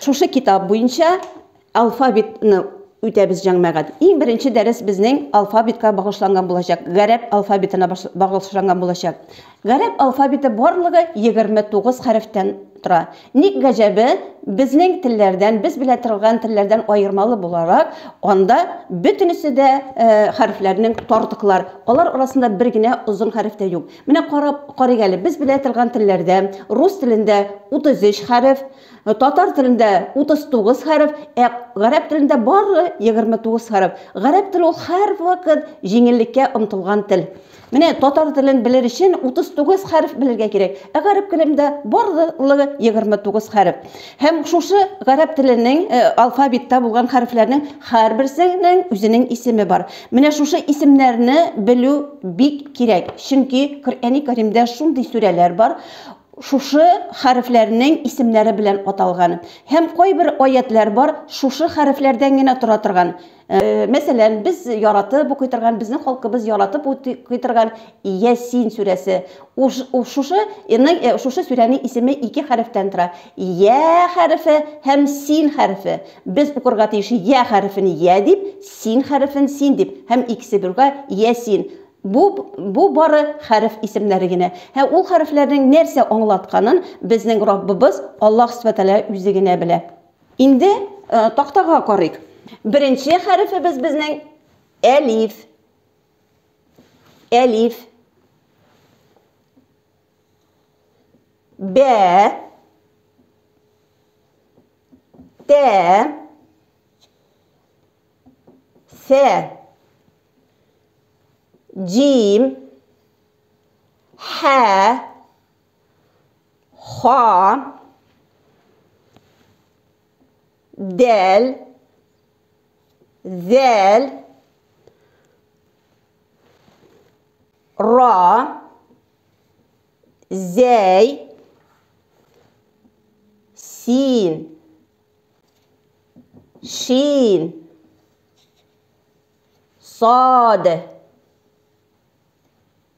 Шушы китап буенча алфавитны үтәбез җәмәгать. Иң беренче дәрес безнең алфавитка багышланган булачак, гарәп алфавитына багышланган булачак. Гарәп алфавиты барлыгы 29 хәрефтән тора. Ник гаҗәбе, безнең телләрдән, без белән торган телләрдән аермалы буларак, анда бөтенесе дә э, хәрефләрнең тартыклар. Алар арасында бер генә озын хәреф тә юк. Менә карап карыйк әле, без белә торган телләрдә рус телендә 33 хәреф, татар телендә 39 хәреф, ә гарәп телендә бары 29 хәреф. Гарәп теле ул һәрвакыт җиңеллеккә омтылган тел. Менә татар телен белер өчен 39 хәреф белергә кирәк, ә гарәп телендә барлыгы 29 хәреф. Һәм шушы гарәп теленең алфавитта булган хәрефләрнең һәрберсенең үзенең исеме бар. Менә шушы исемнәрне белү бик кирәк, чөнки Коръәни Кәримдә шундый сүрәләр бар, шушы хәрефләрнең исемнәре белән аталган. Һәм кайбер аятьләр бар, шушы хәрефләрдән генә тора торган. Мәсәлән, без яратып укый торган, безнең халкыбыз яратып укый торган Ясин сүрәсе. Шушы ның, шушы сүрәнең исеме ике хәрефтән тора, Йә хәрефе һәм Син хәрефе. Без укырга тиеш Йә хәрефен Йә дип, Син хәрефен Син дип һәм икесе бергә Ясин. Бу, бу бары хәреф исемнәре генә. Һәм ул хәрефләрнең нәрсә аңлатканын безнең Раббыбыз Аллаһ Сүбхәнәһү Тәгалә үзе генә белә. Инде тактага карыйк. Беренче хәрефебез безнең әлиф. Әлиф. Бә. Тә. Сә. Джим. Хә. ха дәл зәл ра зәй син шин сад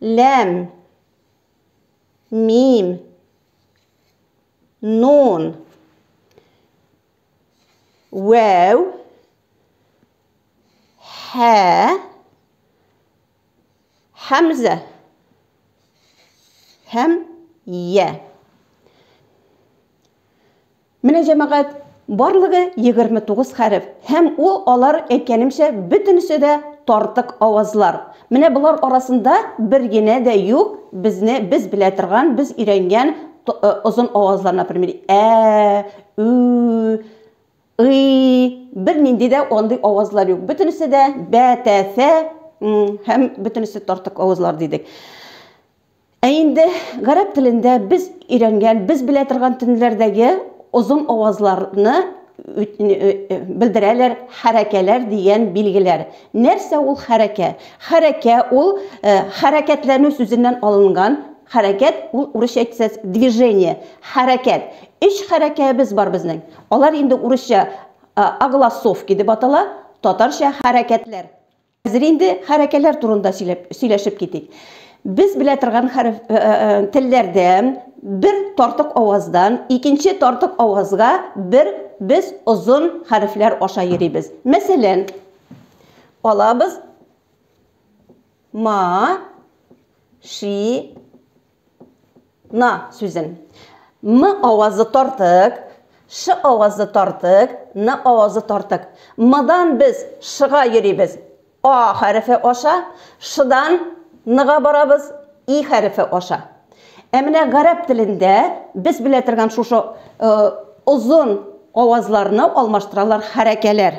ләм, мим, нун, вәү, хә, хәмзә һәм йә. Менә, җәмәгать, барлыгы 29 хәреф, һәм ул алар, әйткәнемчә, бөтенесе дә тартык авазлар. Менә болар арасында бер генә дә юк безне без белә торган, без өйрәнгән озын авазлар, например, ә, ү, ый, бернинди дә андый авазлар юк. Бөтенесе дә бә, тә, фә һәм бөтенесе тартык авазлар дидек. Ә инде гарәп телендә без өйрәнгән, без белә торган төнләрдәге озын авазларны белдерәләр хәрәкәләр дигән билгеләр. Нәрсә ул хәрәкә? Хәрәкә ул хәрәкәтләнү сүзеннән алынган, хәрәкәт ул урысча әйтсәз движение, хәрәкәт. Өч хәрәкәебез бар безнең. Алар инде урысча огласовки дип атала, татарча хәрәкәтләр. Хәзер инде хәрәкәләр турында сөйләп, сөйләшеп китик. Без белә торган хәреф, э, э, э, телләрдән бер тартык аваздан икенче тартык авазга бер без озын хәрефләр аша йөрибез. Мәсәлән, алабыз ма ши На сүзен. М авазы тартык, Ш авазы тартык, Н авазы тартык. Мдан без Шга йөрибез. А хәрефе аша, Шдан Нга барабыз, И хәрефе аша. Ә менә гарәп телендә без белә торган шушы озын авазларны алмаштыралар хәрәкәләр.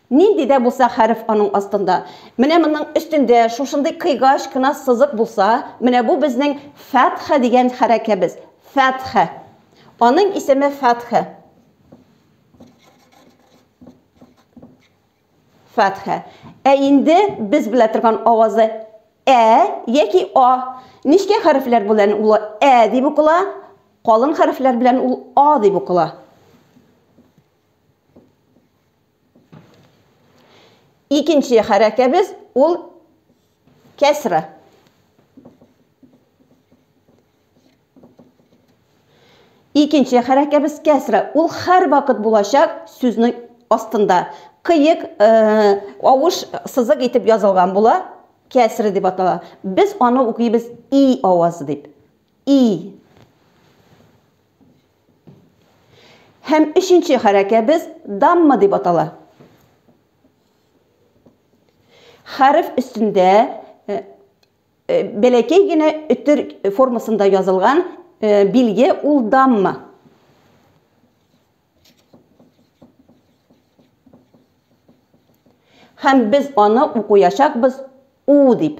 Нинди дә булса хәреф аның астында. Менә моның өстендә шушындый кыйгач кына сызык булса, менә бу безнең фәтхә дигән хәрәкәбез. Фәтхә. Аның исеме фәтхә. Фәтхә. Ә инде без белә торган авазы ә яки а. Нечкә хәрефләр белән ул ә дип укыла, калын хәрефләр белән ул а дип укыла. Икенче хәрәкәбез ул кәсра. Икенче хәрәкәбез кәсра. Ул хәр вакыт булачак сүзнең астында. Кыек, э, авыш сызык итеп язылган була, кәсра дип атала. Без аны укыйбыз и авазы дип. И. Һәм өченче хәрәкәбез дамма дип атала. Хәреф өстендә э, э, бәләкәй генә өтер формасында язылган э, билге ул дамма. Һәм без аны укуячакбыз у дип.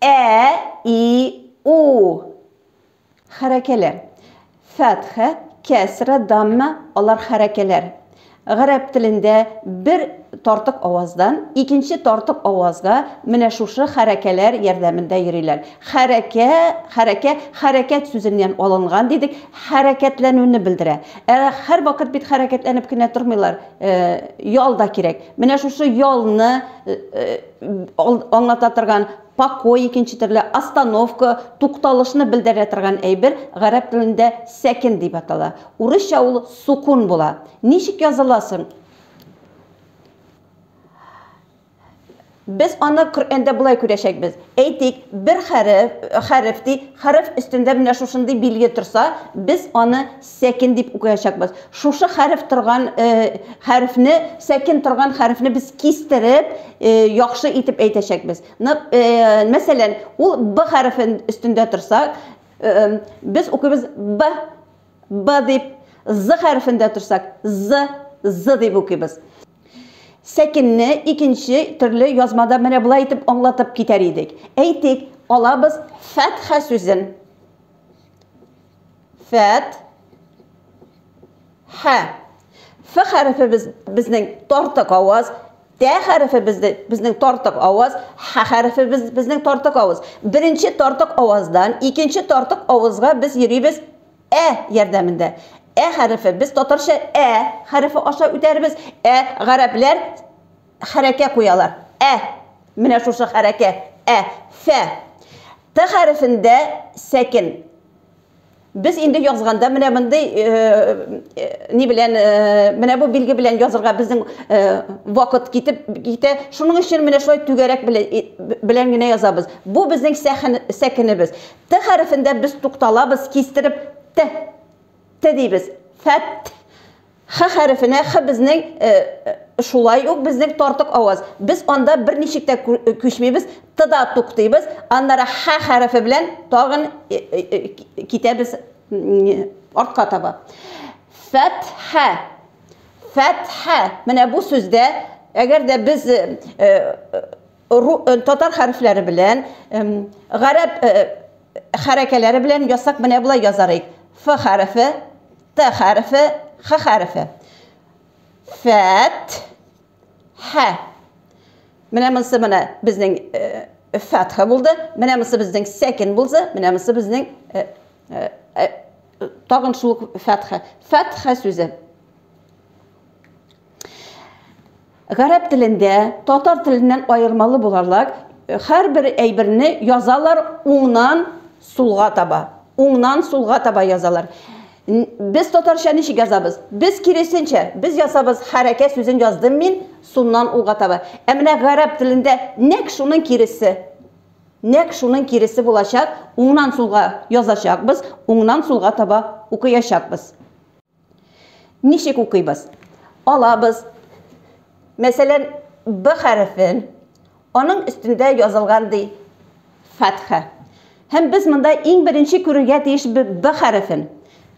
Ә, и, у. Хәрәкәләр. Фәтхә, кәсра, дамма, алар хәрәкәләр. Гарәп телендә бер тартык аваздан икенче тартык авазга менә шушы хәрәкәләр ярдәмендә йөриләр. Хәрәкә, хәрәкә, хәрәкәт сүзеннән алынган дидек, хәрәкәтләнүне белдерә. Ә һәрвакыт бит хәрәкәтләнеп кенә тормыйлар, ял да кирәк. Менә шушы ялны аңлата торган покой икенче төрле остановка тукталышны белдерә торган әйбер гарәп телендә сәкен дип атала урысча ул сукун була ничек языла соң Без аны Коръәндә болай күрәчәкбез. Әйтик, бер хәреф, хәреф ди, хәреф өстендә менә шушындый билге торса, без аны Сәкин дип укыячакбыз. Шушы хәреф торган хәрефне, сәкин торган хәрефне без кистереп, яхшы итеп әйтәчәкбез. Мәсәлән, ул б хәрефе өстендә торса, без укыйбыз б, б дип, з хәрефендә торсак, з, з дип укыйбыз. Сәкинне икенче төрле язмада менә болай итеп аңлатып китәр идек. Әйтик, алабыз фәтха сүзен. Фәт. Хә. Ф хәрефе без, безнең тартык аваз. Т хәрефе безде, безнең тартык аваз. Х хәрефе без, безнең тартык аваз. Беренче тартык аваздан икенче тартык авызга без йөрибез ә ярдәмендә. Ә хәрефе без татарча ә хәрефе аша үтәрбез. Ә гарәпләр хәрәкә куялар. Ә. Менә шушы хәрәкә. Ә. Фә. Т хәрефендә сәкен. Без инде язганда менә мондый ни белән менә бу билге белән язырга безнең вакыт китеп китә. Шуның өчен менә шулай түгәрәк белән генә язабыз. Бу безнең сәкенебез. Т хәрефендә без тукталабыз, кистереп т т дибез. Фәт Х хәрефенә Х безнең шулай ук безнең тартык аваз. Без анда берничек тә күчмибез, Т да туктыйбыз, аннары Х хәрефе белән тагын китәбез артка таба. Фәтхә. Фәтхә. Менә бу сүздә, әгәр дә без Татар хәрефләре белән, гарәп хәрәкәләре белән ясак менә болай язар идек. Ф хәрефе, Т хәрефе, Х хәрефе. Фәт, Х. Менә монсы менә безнең фәтха булды. Менә монсы безнең сәкин булды. Менә монсы безнең тагын шул фәтха. Фәтха сүзе. Гарәп телендә татар теленнән аермалы буларлак, һәрбер әйберне язалар уңнан сулга таба. Уңнан сулга таба язалар. Без татарча ничек язабыз? Без киресенчә, без ясабыз хәрәкә сүзен яздым мин, суннан уңга таба. Ә менә гарәп телендә нәкъ шуның киресе. Нәкъ шуның киресе булачак, уңнан сулга язачакбыз, уңнан сулга таба укыячакбыз. Ничек укыйбыз? Алабыз, мәсәлән, Б хәрефен, аның өстендә язылган ди фәтха. Һәм без монда иң беренче күрергә тиеш Б хәрефен.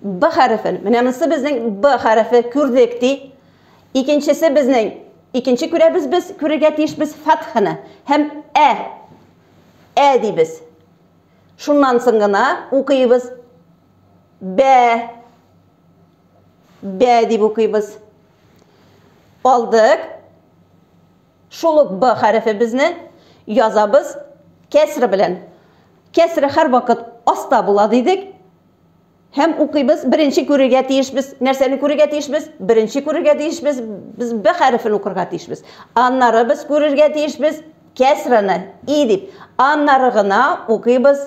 Б хәрефен. Менә монсы безнең Б хәрефе күрдек ди. Икенчесе безнең икенче күрәбез без, күрергә тиеш без фәтханы. Һәм Ә. Ә дибез. Шуннан соң гына укыйбыз. бә бә дип укыйбыз. Алдык. Шул ук б хәрефебезне язабыз кәсре белән. Кәсре һәрвакыт аста була дидек. Һәм укыйбыз, беренче күрергә тиешбез. Нәрсәне күрергә тиешбез? Беренче күрергә тиешбез, без б хәрефен укырга тиешбез. Аннары без күрергә тиешбез кәсраны и дип. Аннары гына укыйбыз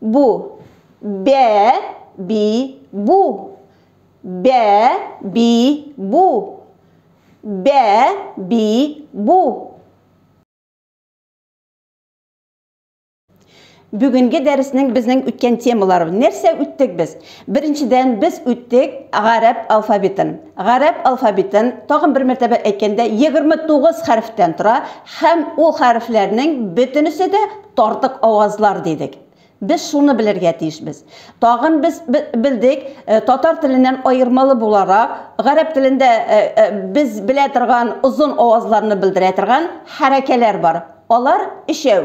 Бу. Бә, би, бу. Бә, би, бу. Бә, би, бу. Бүгенге дәреснең безнең үткән темалары. Нәрсә үттек без? Беренчедән, без үттек гарәп алфавитын. Гарәп алфавитын, тагын бер мәртәбә әйткәндә, 29 хәрефтән тора һәм ул хәрефләрнең бөтенесе дә тартык авазлар дидек. Без шуны белергә тиешбез. Тагын без белдек, татар теленнән аермалы буларак, гарәп телендә без белә торган озын авазларны белдерә торган хәрәкәләр бар. Алар өчәү.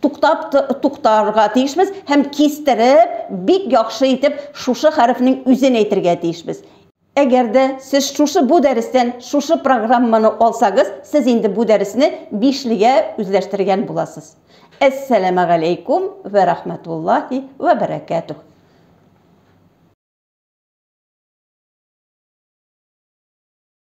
туктап туктарга тиешбез һәм кистереп бик яхшы итеп шушы хәрефнең үзен әйтергә тиешбез. Әгәр дә сез шушы бу дәрестән шушы программаны алсагыз, сез инде бу дәресне бишлегә үзләштергән буласыз. Әссәләмәгаләйкүм вә рахмәтуллаһи вә бәрәкәтүһ.